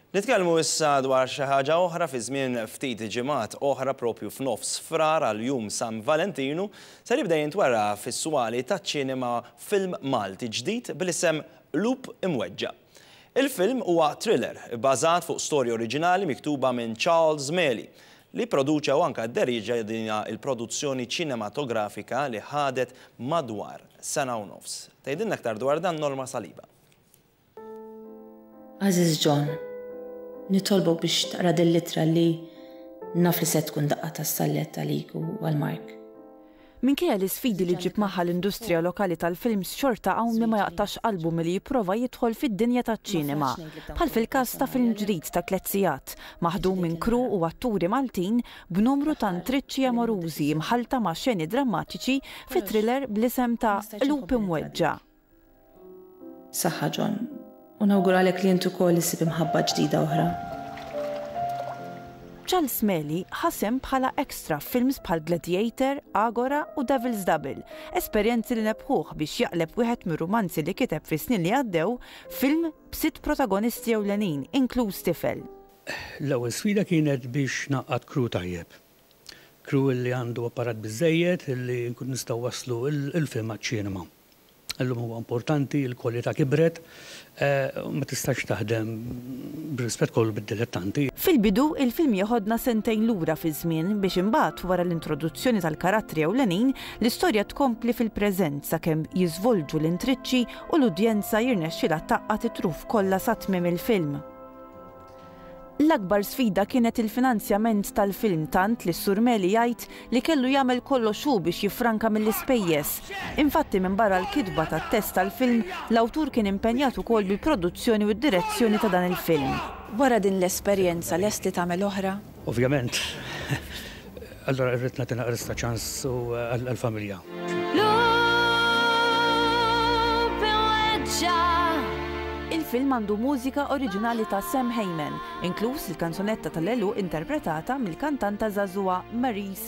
Nitkellmu issa dwar xi ħaġa oħra fi żmien ftit ġimgħat oħra propju f'nofs Frar għal Jum San Valentinu ser jibda jintwera fis-swali taċ-ċinema film Malti ġdid bl-isem Qlub Imweġġa'. Il-film huwa thriller ibbażat fuq storja oriġinali miktuba minn Charles Meli li pproduċa u anke dderieġa dinha l-produzzjoni ċinematografika li ħadet madwar sena u nofs. Tgħidilna aktar dwar dan Norma Saliba. Għażiż John, nitolbok biex taqra dil-littra li naf li se tkun daqqa tas-sallett għalik u għal Mark. Minkejja l-isfidi li ġġib magħha l-industrija lokali tal-films xorta hawn min ma jaqtax qalbu milli jipprova jidħol fid-dinja taċ-ċinema, bħal fil-każ ta' film ġdid ta' tliet sigħat, maħdum minn crew u atturi Maltin b'numru ta' ntriċċi amorużi mħallta ma' xeni drammatiċi fi thriller bl-isem ta' Qlub Imweġġa'. Saħħa John, u nawguralek li int ukoll issib imħabba ġdida oħra. Charles Meli ħa sehem bħala extra f'films bħal Gladiator, Agora u Devil's Double, esperjenzi li nebħuh biex jaqleb wieħed mir-rumanzi li kiteb fis-snin li għaddew film b'sitt protagonisti ewlenin, inkluż tifel. L-ewwel sfida kienet biex ngħaqqad crew tajjeb. Crew li għandu apparat biżżejjed li nkunu nistgħu nwasslu l-film għaċ-ċinema. Illum huwa importanti, il-kwalità kibret, ma tistax taħdem, bir-rispett kollu, bid-dilettanti. Fil-bidu, il-film jeħodna sentejn lura fiż-żmien biex imbagħad, wara l-introduzzjoni tal-karattri ewlenin, l-istorja tkompli fil-preżent sakemm jiżvolġu l-intriċċi u l-udjenza jirnexxilha tgħaqqad it-truf kollha sa tmiem il-film. L-akbar sfida kienet il-finanzjament tal-film tant li s-Sur Meli jgħid li kellu jagħmel kollox hu biex jiffranka mill-ispejjeż. Infatti minbarra l-kitba tat-test tal-film, l-awtur kien impenjat ukoll bil-produzzjoni u d-direzzjoni ta' dan il-film. Wara din l-esperjenza lest li tagħmel oħra? Ovvjament, allura rrid nagħti naqras ta' ċans għall-familja. Il-film għandu mużika oriġinali ta' Sam Hayman, inkluż il-kanzunetta tal-għeluq interpretata mill-kantanta żagħżugħa Maryse